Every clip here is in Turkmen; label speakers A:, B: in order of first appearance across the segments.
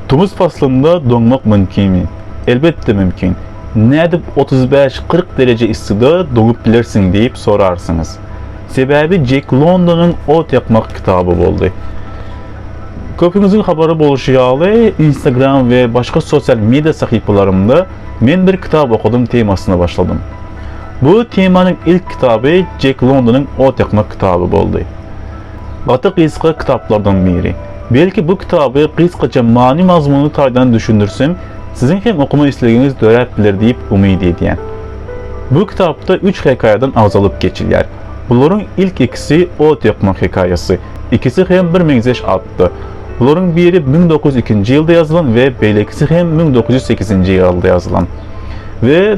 A: Tomus paslynda doňmak mümkinmi? Elbetde mümkin. Nädip otuz bäş, kyrk dereje yssida doňup bilersiň diýip sorarsyňyz. Sebäbi Jek Londonyň Ot ýakmak kitaby boldy. Köpüňiziň habary bolşy ýaly, Instagram we başga sosial media sahypalarymda Men bir kitap okadym temasyna başladym. Bu temanyň ilk kitaby Jek Londonyň Ot ýakmak kitaby boldy. Gaty gysga kitaplardan biri. Belki bu kitaby gysgaça many-mazmuny taýdan düşündirsem, siziň hem okama islegiňiz döräp biler diýip umyt edýän. Bu kitapda üç hekaýadan agzalyp geçilýär. Bularyň ilk ikisi ot ýakmak hekaýasy, ikisi hem bir meňzeş atda. Bularyň biri müň dokuz ýüz ikinji ýylda ýazylan we beýlekisi hem müň dokuz ýüz sekizinji ýylda ýazylan. We.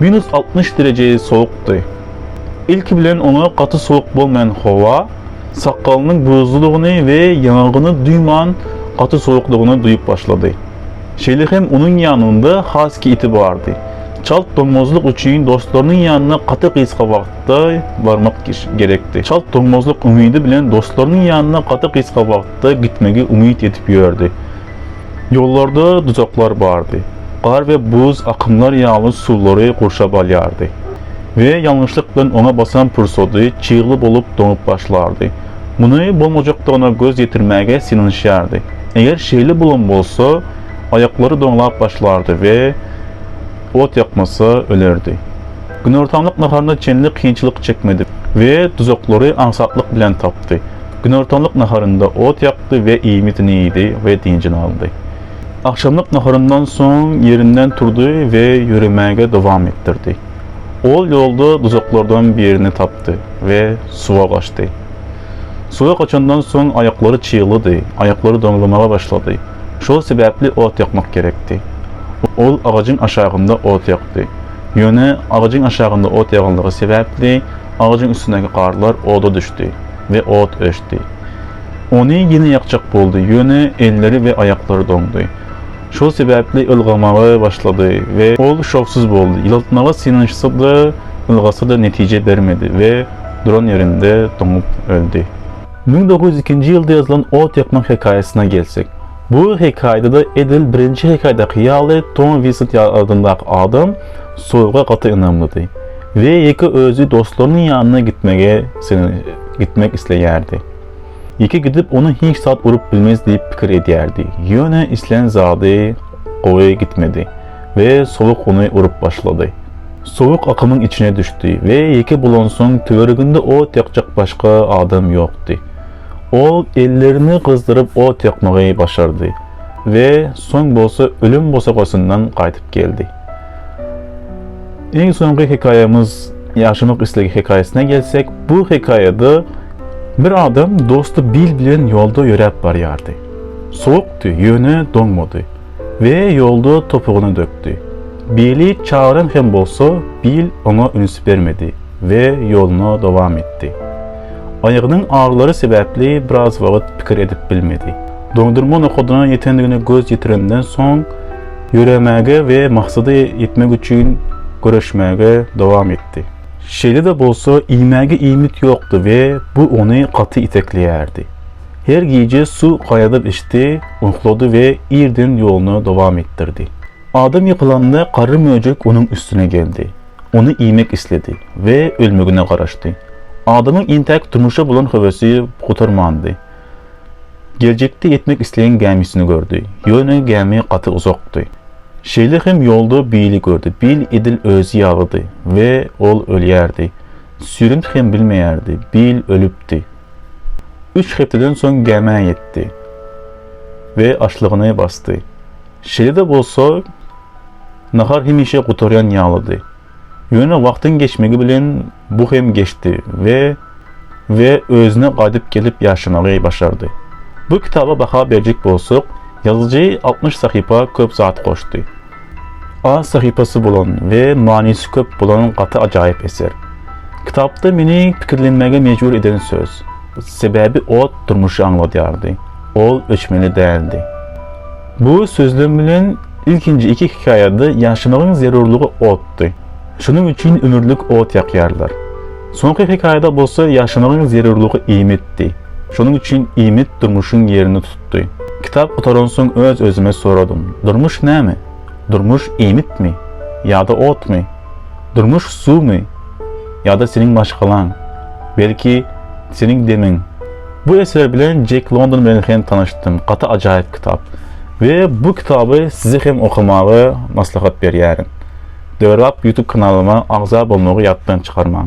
A: Minus altmyş dereje sowukdy. Ilki bilen oňa gaty sowuk bolmaýan howa sakgalynyň buzludygyny we ýaňagyny duýman gaty sowukdygyny duýup başlady. Şeýle hem onuň ýanynda haski iti bardy. Çalt doňmazlyk üçin dostlarynyň ýanyna gaty gysga wagtda barmak gerekdi. Çalt doňmazlyk umydy bilen dostlarynyň ýanyna gaty gysga wagtda gitmegi umyt edip ýördi. Ýollarda duzaklar bardy. Gar we buz akymlar ýaly suwlary gurşap alýardy we ýalňyşlyk bilen oňa basan pursady çygly bolup doňup başlardy. Muny bolmajakdygyna göz ýetirmäge synanyşýardy. Eger şeýle bolan bolsa, aýaklary doňlap başlardy we ot ýakmasa, ölerdi. Günortanlyk naharyna çenli kynçylyk çekmedi we duzaklary aňsatlyk bilen tapdy. Günortanlyk naharynda ot ýakdy we iýmitini iýdi we dynjyny aldy. Agşamlyk naharyndan soň ýerinden turdy we ýöremäge dowam etdirdi. Ol ýolda duzaklardan birini tapdy we suwa gaçdy. Suwa gaçandan soň aýaklary çyglydy, aýaklary doňzamaga başlady. Şol sebäpli ot ýakmak gerekdi. Ol agajyň aşagynda ot ýakdy. Ýöne agajyň aşagynda ot ýaganlygy sebäpli agajyň üstündäki garlar oda düşdi. we ot öçdi. Ony ýene ýakjak boldy, ýöne elleri we aýaklary doňdy. Şol sebäpli ylgamaga başlady we ol şowsuz boldy. Ýyltmaga synanyşsa-da, ylgasa-da netije bermedi we duran ýerinde doňup öldi. Müň dokuz ýüz ikinji ýylda ýazylan ot ýakmak hekaýasyna gelsek, Bu hekaýada-da edil birinji hekaýadaky ýaly Tom Winsent adyndaky adam Soýga gaty ynamlydy we ýeke özi dostlarynyň ýanyna gitmegi gitmek isleýärdi. Ýeke gidip ony hiç zat urup bilmez diýip pikir edýärdi. Ýöne islän zady gowy gitmedi we sowuk ony urup başlady. Sowuk akymyň içine düşdi we ýeke bolansoň töwereginde ot ýakjak başga adam ýokdy. Ol ellerini gyzdyryp ot ýakmagy başardy we soň bolsa ölüm bosagasyndan gaýdyp geldi. Iň soňky hekaýamyz Ýaşamak islegi hekaýasyna gelsek, bu hekaýada bir adam dosty Bill bilen ýolda ýöräp barýardy. Sowukdy, ýöne doňmady. We ýolda topugyny dökdi. Bili çagyran hem bolsa, Bil oňa üns bermedi we ýoluna dowam etdi. Aýagynyň agyrylary sebäpli biraz wagyt pikir edip bilmedi. Doňdurma nokadyna ýetendigine göz ýetirenden soň, ýöremäge we maksada ýetmek üçin göreşmäge dowam etdi. Şeýle-de bolsa, iýmäge iýmit ýokdy we bu ony gaty itekleýärdi. Her gije suw gaýadyp içdi, uklady we irden ýoluny dowam etdirdi. Adam ýykylanda garry möjek onuň üstüne geldi. Ony iýmek isledi we ölmegine garaşdy. Adamyň entäk durmuşa bolan höwesi gutarmandy. Geljekde ýetmek isleýän gämisini gördi. Ýöne gämi gaty uzakdy. Şeýle hem ýolda Billi gördi. Bill edil özi ýalydy we ol ölýärdi. Süýrenip hem bilmeýärdi. Bill ölüpdi. Üç hepdeden soň gämä ýetdi we açlygyny basdy. Şeýle-de bolsa, nahar hemişe gutarýan ýalydy. Ýöne wagtyň geçmegi bilen bu hem geçdi we we özüne gaýdyp gelip ýaşamagy başardy. Bu kitaba baha berjek bolsak, ýazyjy altmyş sahypa köp zat goşdy. Az sahypasy bolan we manysy köp bolan gaty ajaýyp eser. Kitapda meni pikirlenmäge mejbur eden söz. Sebäbi ot durmuşy aňladýardy. Ol öçmeli däldi. Bu sözlem bilen ilkinji iki hekaýada ýaşamagyň zerurlygy otdy. Şonuň üçin ömürlik ot ýakýarlar. Soňky hekaýada bolsa ýaşamagyň zerurlygy iýmitdi. Şonuň üçin iýmit durmuşyň ýerini tutýar. tutdy. Kitap gutaransoň öz-özüme soradym, Durmuş näme? Durmuş iýmitmi? Ýa-da otmy? Durmuş suwmy? Ýa-da seniň maşgalaň? Belki, seniň demiň? Bu eser bilen Jek London bilen hem tanyşdym, gaty ajaýyp kitap. We bu kitaby size hem okamagy maslahat berýärin. Döwrebap YouTube kanalyma agza bolmagy ýatdan çykarmaň.